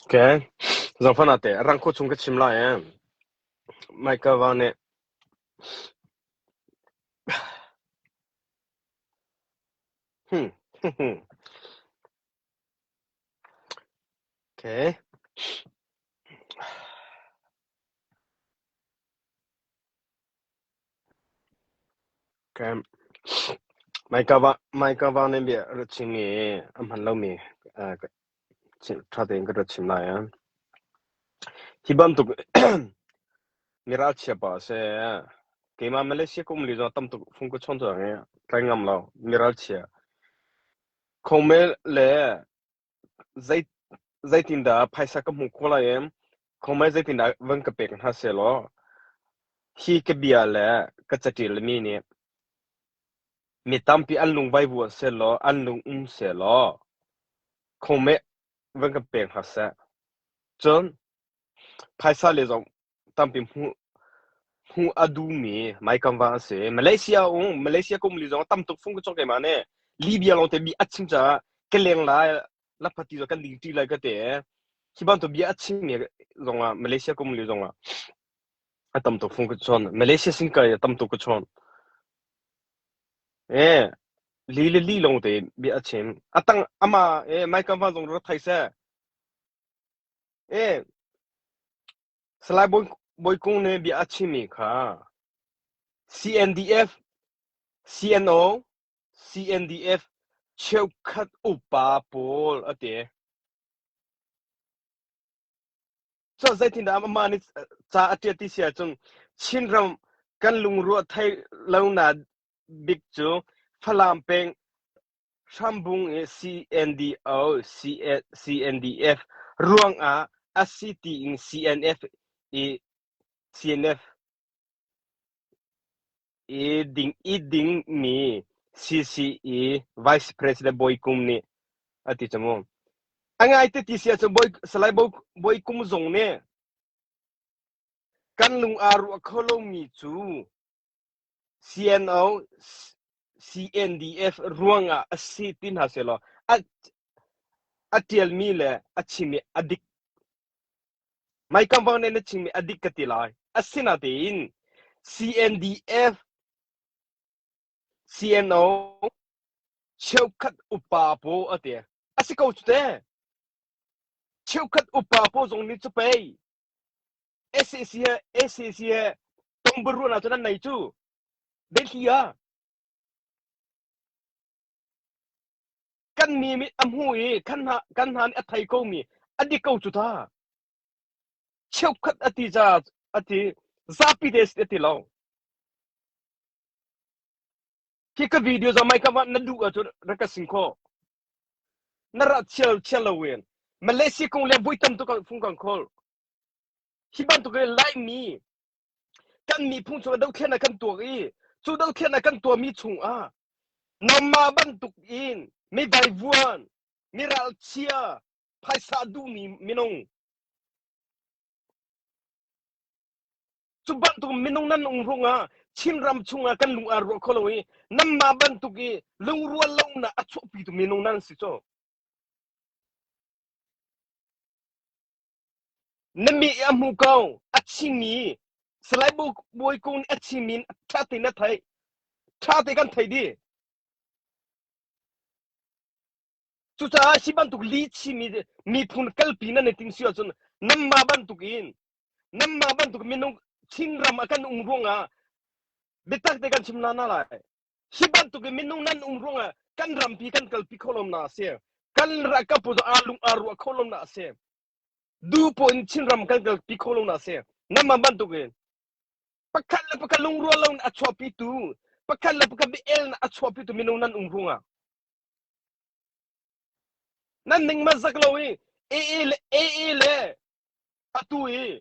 Okay. Zohhmanh ah teh rang khua chung ka chim lai ee. Michael Val nih hmm, okay. Hmaika vang nih bia a rat chim i a hman lomi ṭha tein ka ruat chin lai. Hi bantuk miral chiapa a si. Keimah Malaysia kum li zong tam tuk fung ka chawn cuang i tlai ngam lo miral chia. Khong mel le zeitindah phaisa ka hmuh khawh lai i khomai zeitindah van ka pek hna sehlaw hi ka bia le ka caṭil mi nih mi tampi an lung vai vuah sehlaw an lung um sehlaw khomai van ka pek hna seh cun phaisa le zong tampi hmuh hmuh a duhmi maikam va an si malaysia um malaysia kum li zong tam tuk fung ka chok ke ma ne libya long te bi a chim caah ka leng la la phati zo kan ding ti lai ka te hi ban to bia a chim mi zong ah malaysia kum li zong ah a tam tuk fung ka chon malaysia sin ka tam tuk ka chon eh li le li long te bi a chim atang ama eh mai kam va zong ro thai se Salai Bawi Kung nih bia a chimmi kha CNDF, CNO, CNDF cheukhat upa pawl a ti. Cu zeitindah amah nih ca a ṭial ti si ahcun Chinram kan lungruah thei lo na bik cu Falam peng Hrambung i CNDO, CNDF ruangah a si tiin CNF i CNF i ding i dingmi CCE Vice President Bawi Kum nih a ti camu. A ngai te ti sia cu Bawi Salai Bawi Kum zong nih kan lung aa ruah kho lomi cu CNDF ruangah a si ti hna sehlaw a ṭialmi le a chimmi a dik. Maikam Wang nih na chimmi a dik ka ti lai. Asinatein CNDF CNO cheukhat upa paw a ti. A si ko cu te. Cheukhat upa paw zong nih cu pei SAC he SAC he tongbar ruahnak cu nan nei cu biathli a kan mi mit a hmu i kan hna kan hna nih a thei ko mi a dik ko cu ta cheukhat a ti ca a ti zapi des a ti lo khi ka video za mai kama na duh ahcun rak ka sing kho na ra chial chial lo wen Malaysia kong le bui tam tu kan fung kan khol Hi bantuk in Laimi kan miphung chungah dothlen ah kan tuak i cu dothlen ah kan tuahmi chungah namma bantuk in mi vaivuan, mi ralchia, phaisa duhmi minung cu bantuk minung nan um ruangah Chinram chungah kan lung aa ruah kho lo i namma bantuk i lungrual lonak a chuahpitu minung nan si cu. Na mi a hmu ko, a chimi Salai Bawi Kung nih a chimi in ṭha tein a theih. Ṭha te kan thei dih. Cucaah hi bantuk li chimi miphun kalpi nan i tim si ahcun nanmah bantuk in nanmah bantuk minung Chinram a kan um ruangah biatak te kan chim hna hna lai. Hi bantukin minung nan um ruangah kan rampi kan kalpi kho lom na a si. Kan kapu aa lung aa ruah kho lom na a si. Dupo in Chinram kan kalpi kho lom na a si. Nama bantukin pakhat le pakhat lungrual lo in a chuahpitu pakhat le pakhat biel na a chuahpitu minung nan um ruangah nan ning mazak lo i AA le AA le atu i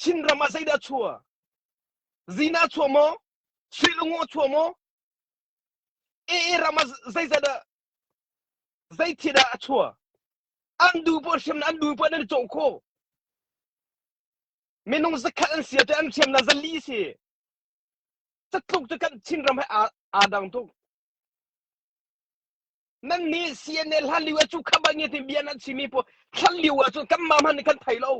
Chinram ah zeidah chuah? Zina chuah maw? Sulungo chuah maw? AA ram ah zeizat ah zeithiat ah a chuah? An du pawl hrim an du pawl nan cawh kho. Minung zakhat an sia te an hriam na zali si. Catluk tu kan Chinram he aa dang tuk. nan nih CNA hlan lio ah cu khama nge ti bia nan simi pu thlan lio ah cun kan ma hman kan thei lo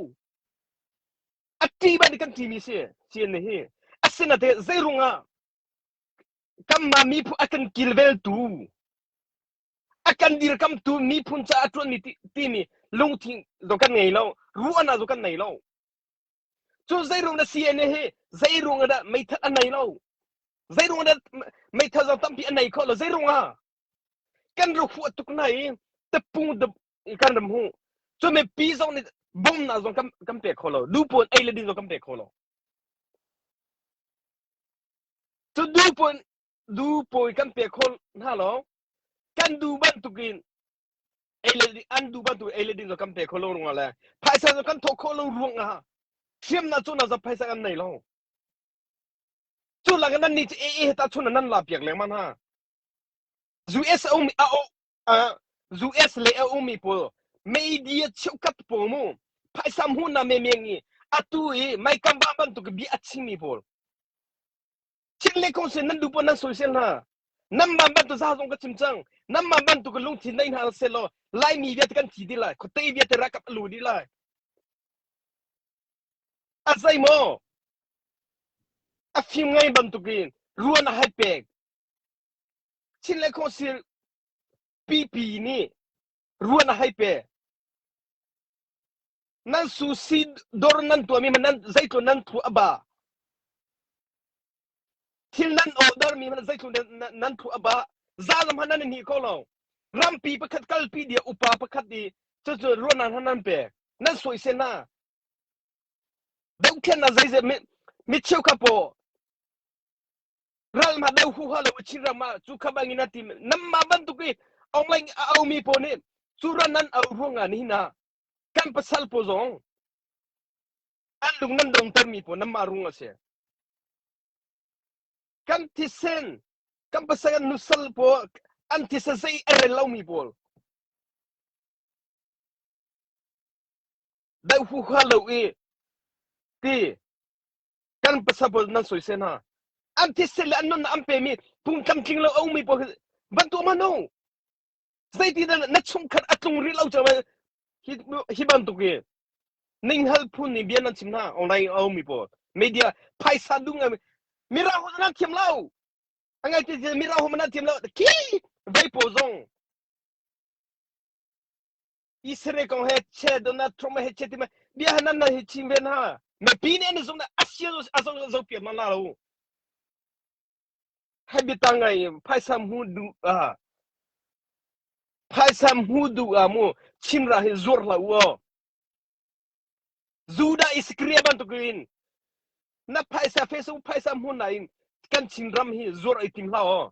a ti ban kan ti mi si CNA hi asinate zeirung ah kan ma mi phu a kan kilvel tu a kan dir kam tu mi phun cha a tuan mi ti mi lungthin zo kan ngei lo ruana zo kan nei lo Cun zeirung na CNA hi zeirung dah meithal an nei lo. Zeirung dah meithal zong tampi an nei kho lo. Zeirung ah kan ru fu tuk na i tapung dap kan ram hu. Cun me pi zong nih bom na zong kan kan pek kho lo. Lu puan ei le ding zong kan pek kho lo. Cun du puan du pawi kan pek kho hna lo. Kan du bantukin Ei le ding an duh bantuk ei le ding cu kan pe kho lo rungah le phaisa cu kan thawh khawh lo ruangah hriamnah cu na za phaisa kan nei lo. Cu lak in nan nih cu ee ta chun nan la piak lengmang hna. US a um a u- ah, US le a ummi pawl media cheukat pawl mu phaisa hmuhna menmen i atu i maikamvah bantuk i bia a chimmi pawl Chin le kung sin nan duh paoh nan soisel hna. Namman bantuk za zong ka chim cang. Namman bantuk ka lungthin nei hna sel law Laimi viate kan thi dih lai. Khuate viate rakap a lu dih lai. A zei maw? A fim ngai bantuk in ruan a hai pek. Chin le kung sin pipi nih ruan a hai pe. Nan susi dor nan tuahmi hmanh nan zeitlun nan thu a ba. Thil nan ordermi hmanh zeitlun nan, nan thu a ba. Zalam hmanh nan ni ko lo. Rampi pakhat kalpi dia upa pakhat di cucu ruahnan hmanh nan pe. Nan suai se na. Dokthen na zeize mi mi cheu kha po ral ma dau hu ha lo chi rama chu kha bangin ati nam ma bantuk i online a aumi po ni chu ran nan au ruanga ni na kan pasal pawl zong an lung nan dongtermi pawl nanmah rung a si kan thisen kan pasal kan nusal pawl an thisa zei a rel lomi pawl dai hu kha lo i ti kan pasal pawl nan soi sen ha an thisen le an nun an pemi phung tlamtling lo aumi pawl bantu ma no zeitindah na chungkhat a tlung rih lo cang hi hi bantuk hi ninghngal phun nih bia nan chim hna online a ummi pawl media phaisa dung ngai mira ho na thiam lo angai ti mira ho na thiam lo ki vai po zong isere kong he che donald trump he che ti ma bia hanan na hi chim ven ha me pi ne ne zong na asia azong zo piam na la lo Habitang ai phaisa hmu duh ah mu chimra hi zuar hlah u aw. Judah Iskariot bantuk in na phaisa Facebook phaisa hmun nain kan Chin ram hi zuar i tim hlah aw.